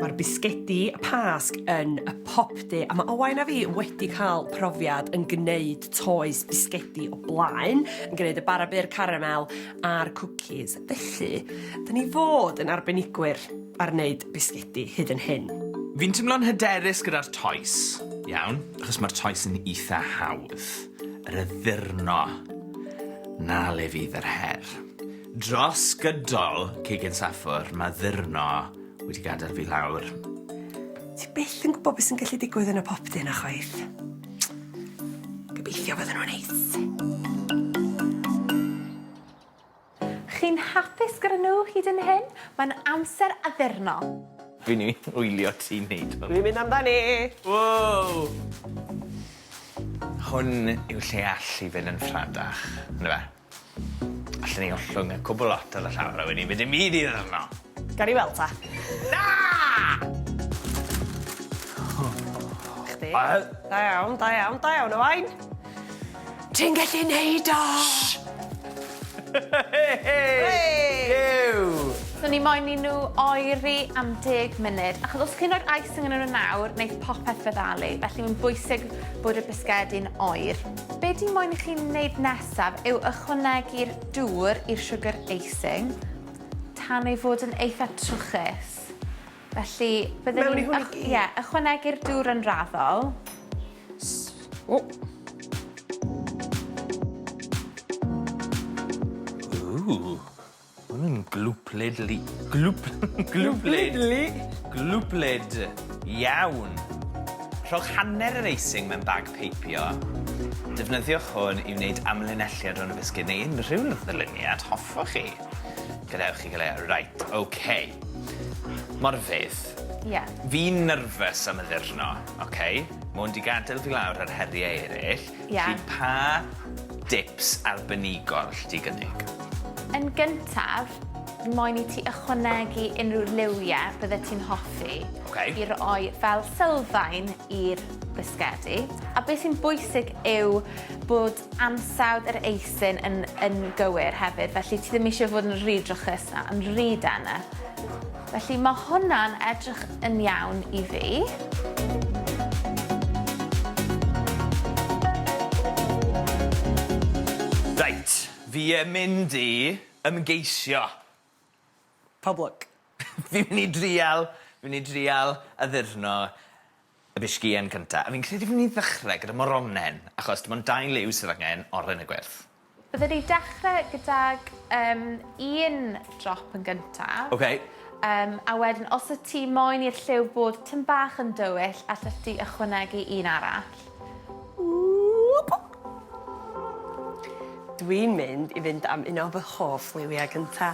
Mae'r bisgedi Pasg yn y popdy a mae Owain a fi wedi cael profiad yn gwneud toes bisgedi o blaen, yn gwneud y bara byr caramel a'r cwcis, felly dyn ni fod yn arbenigwyr ar wneud bisgedi hyd yn hyn. Fi'n timlo'n hyderus gyda'r toes, iawn, achos mae'r toes yn eitha hawdd. Yr addurno, 'na le fydd yr her. Dros gydol Cegin Saffwr mae ddirno wedi gadael fi lawr. Ti byth yn gwybod beth sy'n gallu digwydd yn y popdyn a chwaith. Gobeithio fydden nhw'n neis. Chi'n hapus gyda nhw hyd yn hyn? Mae'n amser addurno. Fi'n un wylio ti'n neud hwn. Fi'n mynd amdani! Wow! Hwn yw lle alli fynd yn ffradach, yndyfe? Allen i ollwng y cwbl lot ar y llawr a wedyn by dim byd i ddod arno. Gawn ni weld ta. Na! Chdi. Da iawn, da iawn, da iawn, Owain. Ti'n gallu neud o! Hei! So ni moyn i nhw oeri am deg munud, achos os chi'n rhoi'r icing yn y nawr, neith popeth feddalu, felly mae'n bwysig bod y bisgedi'n oer. Be dwi moyn i chi wneud nesaf yw ychwanegu'r dŵr i'r sugar icing tan ei fod yn eitha trwchus. Felly, bydden Mewn i hwn i gyd? Ie, ychwanegu'r dŵr yn raddol. O! Ww! Ma' nw'n glwplyd-lu. Glwp glwplyd. Glwplyd-lu. Glwplyd iawn. Rhowch hanner yr eising mewn bag peipio. Defnyddiwch hwn i wneud amlinelliad o'n bisged neu unrhyw ddyluniad hoffwch chi. Gadewch i gael e. Reit, ok. Morfydd. Ie. Fi'n nyrfys am addurno, ok? Ma' 'wn 'di gadel fi lawr ar herie eryll. Iawn. Felly pa dips arbenigol allet ti gynnig? Yn gyntaf, fi moyn i ti ychwanegu unrhyw liwie byddet ti'n hoffi... Ok. ...i roi fel sylfaen i'r bisgedi. A be sy'n bwysig yw bod ansawdd yr eisyn yn yn gywir hefyd, felly ti ddim isie fod yn rhy drwchus na yn rhy dene. Felly mae hwnna'n edrych yn iawn i fi. Reit, fi yn mynd i ymgeisio. Public. Fi'n mynd i drial, fi'n mynd i drial addurno y biscue'n cynta a fi'n credu fy' ni'n ddechre gyda moronen achos dim ond dau liw sydd angen oren y gwyrth. Bydden ni'n dechre gydag yym un drop yn gynta. Ok. Yym a wedyn os wt ti moyn i'r lliw bod tym bach yn dywyll allet ti ychwanegu un arall. Wwp! Dwi'n mynd i fynd am un o fy hoff liwia gynta.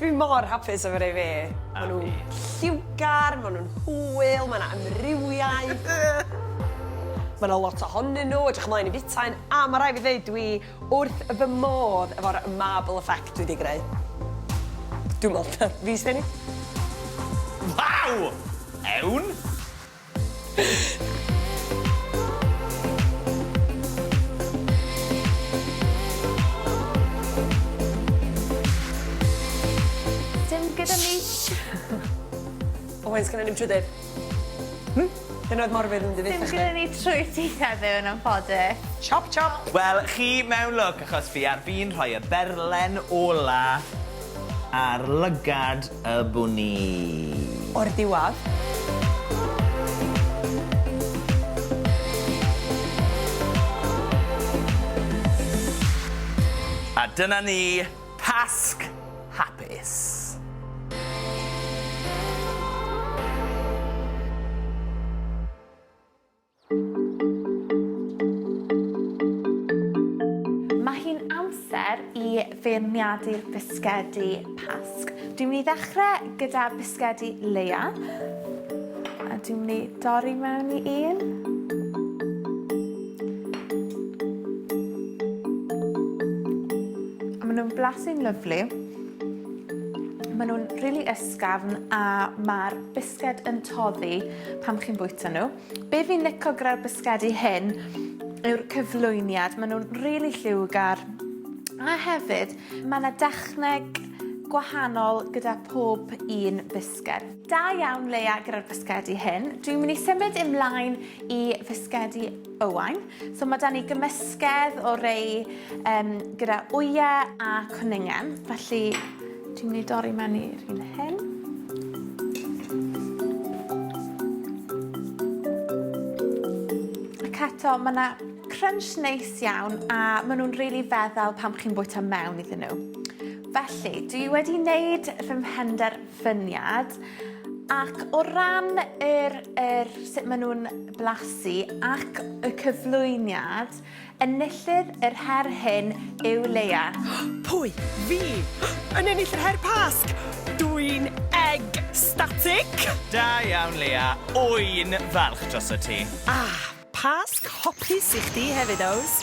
Dwi mor hapus efo rei fi. Ma' nhw'n lliwgar, ma' nhw'n hwyl, ma' 'na amrywiaeth. Ma' 'na lot ohonyn nhw, edrych ymlaen i fwyta'n, a ma' raid fi ddeud dwi wrth fy modd efo'r marble effect dwi 'di greu. Dwi me'wl 'tha fi sy ennill. Waw! Ewn! Dim gyda ni. Owain, sgynnon ni'm trydydd. Hmm? Dyna oedd Morfydd yn mynd i ddeutha chdi. Dim gyda ni trwytith heddiw yn anffodus. Chop chop! Wel, chi mewn lwc achos fi ar fin rhoi y berlen ola ar lygad Y bu ni. O'r diwadd. A dyna ni, Pasg hapus. Mae hi'n amser i feirniadu'r bisgedi Pasg. Dwi'n mynd i ddechrau gyda bisgedi Leia. A dwi'n mynd i dorri mewn i un. A maen nhw'n blasu'n lyflu. Maen nhw'n rili really ysgafn a mae'r bisgedi bisged yn toddi pan chi'n bwyta nhw. Be fi'n lico gyda'r bisgedi hyn yw'r cyflwyniad. Maen nhw'n rili really lliwgar. A hefyd, mae yna dechneg gwahanol gyda pob un bisged. Da iawn Leia gyda'r bisgedi hyn. Dwi'n mynd i symud ymlaen i fisgedi Owain. So mae 'da ni gymysgedd o rei um, gyda wyau a cwningen, felly dwi'n mynd i dorri mewn i'r un hyn. Ac eto, mae yna crunch neis iawn a maen nhw'n rili really feddal pam chi'n bwyta mewn iddyn nhw. Felly, dwi wedi wneud fy mhenderfyniad Ac o ran yr, yr, sut maen nhw'n blasu ac y cyflwyniad, enillydd yr her hyn yw Leia. Pwy? Fi? Yn ennill yr her Pasg? Dwi'n eg-static! Da iawn, Leia. Wy'n falch drosot ti. A Pasg hopus i chdi hefyd, Ows.